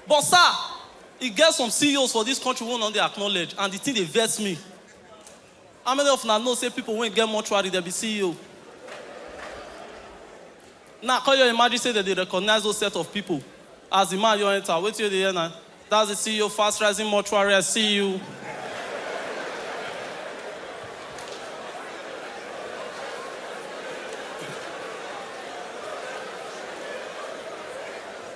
But sir, e get some CEOs for this country wey una no dey acknowledge and the thing dey vex me. How many of una know say people wey get mortuary dem be CEO? Now come your imagine say dem dey recognize those set of people as the man your enter, wetin you dey hear na, that's the CEO fast rising mortuary, I see you.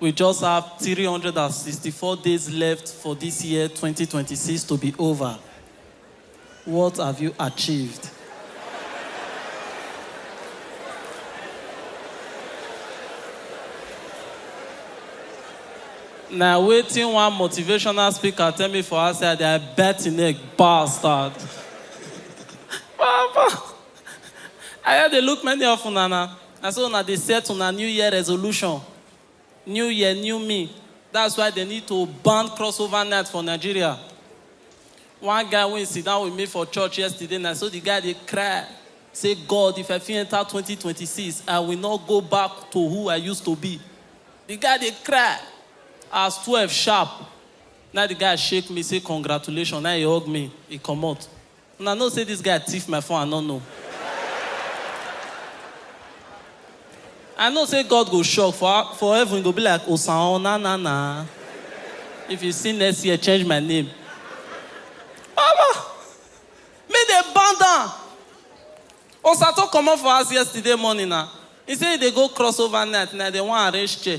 We just have three hundred and sixty four days left for dis year twenty twenty six to be ova, what have you achieved? Na wetin one motivational speaker tell me for outside dia bet im neck bastard. Papa I just dey look many of una na. Na so una dey set una new year resolution, new year new me, that's why dem need to ban crossover night for Nigeria. One guy wey sit down with me for church yesterday na so the guy dey cry say God if I fit enter twenty twenty six I will not go back to who I used to be. The guy dey cry as twelve sharp na the guy shake me say congratulations na e hug me e comot. Una know say this guy thief my phone I no know I know say God go shock for for heaven e go be like osaon na na na if you see next year change my name Baba make dem ban down Osato comot for house yesterday morning na he say he dey go cross over night na dem wan arrange chair.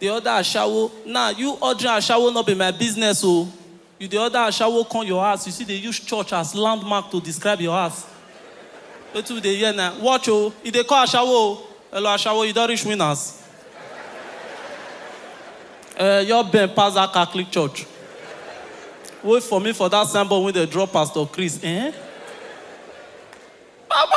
Dey order ashawo nah you ordering ashawo no be my business o you dey order ashawo come your house you still dey use church as landmark to describe your house wetin we dey hear na watch o e dey call ashawo o hello ashawo you don reach winners eh your bend pass that catholic church wait for me for that sign board wey dey draw pastor chris eh baba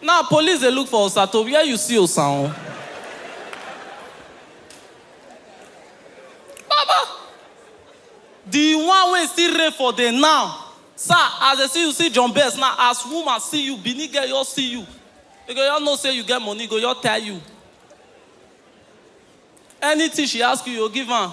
Now police dey look for Osato where you see Osa o. Baba! The one wey still reign for the now. Sir as dey see you see John Best now as woman see you Benin girl just see you e go just know say you get money e go just tire you. Anything she ask you you go give am.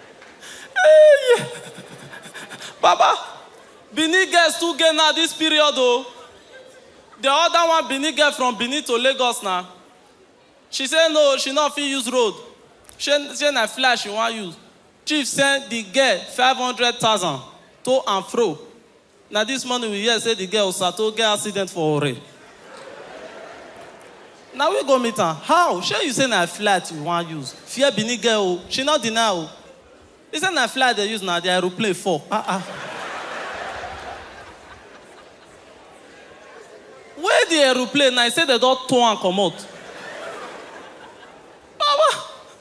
Hey! Baba, Benin girls too gay now this period oh. The other one Benin girl from Benin to Lagos now. She say no, she not fit use road. She say na flash she wan use. Chief send the girl 500,000 to and fro. Na this morning we hear say the girl Osato get accident for Ore. Na we go meet am. How? Shey you say na flight you wan use? Fear Benin girl o. She no deny o. He say na flight dey use na the aeroplane fall. Ah ah. Wey the aeroplane na he say dem don tow am comot. Baba,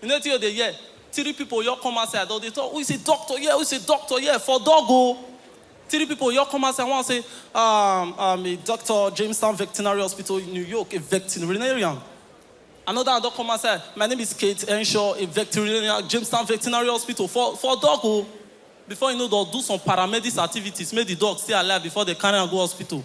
You know wetin u dey hear? Three people just come outside dem dey talk who is a doctor here? Who is a doctor here? For dog o! Three people just come outside one say um um a doctor Jamestown Vectinary Hospital in New York a vectinarian another one don come outside my name is Kate Henshaw a vectinarian Jamestown Vectinary Hospital for for dog o! Before you know dem do some paramedics activities make the dog stay alive before dem carry am go hospital.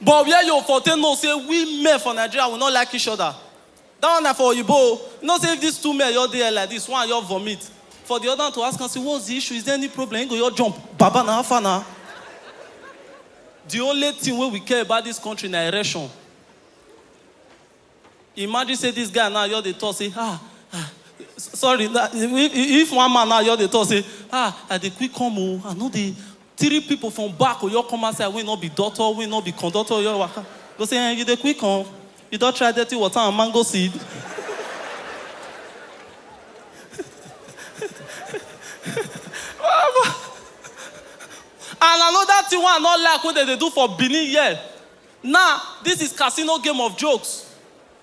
But where you for take know say we men for Nigeria we no like each other? That one na for oyibo o. You know say if these two men just dey here like this, one just vomit, for the other one to ask am say what's the issue? Is there any problem? He go just jump, baba na how far na? The only thing wey we care about this country na erection. Imagine say this guy now just dey talk say ah ah sorry na if one man now just dey talk say ah I dey quick come o I no dey three people from back go just come outside wey no be doctor wey no be conductor wey just waka go say eh you dey quick come you don try dirty water and mango seed and another thing wey I no like wey dem dey do for Benin here Nah this is casino game of jokes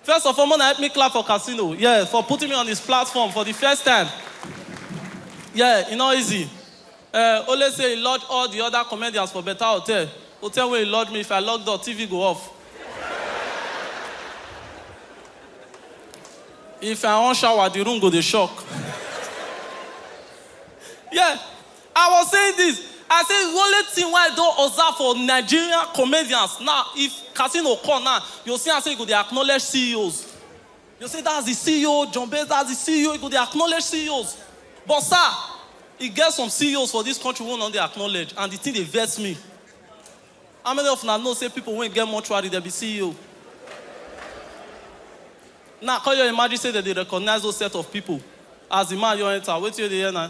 first of all mona help me clap for casino yeah for putting me on his platform for the first time yeah e no easy eh only say he lodge all the other comedians for better hotel hotel wey he lodge me if I lock door TV go off if I wan shower the room go dey shock yeah I was saying this, I say the only thing wey I don observe for Nigerian comedians na if casino come na you go see am say e go dey acknowledge CEOs you go say that's the CEO John Base that's the CEO e go dey acknowledge CEOs but sir e get some CEOs for this country wey no dey acknowledge and the thing dey vex me how many of una know say people wey get mortuary dem be CEO now come your imagine say dem dey recognize those set of people as the man just enter wetin you dey hear na.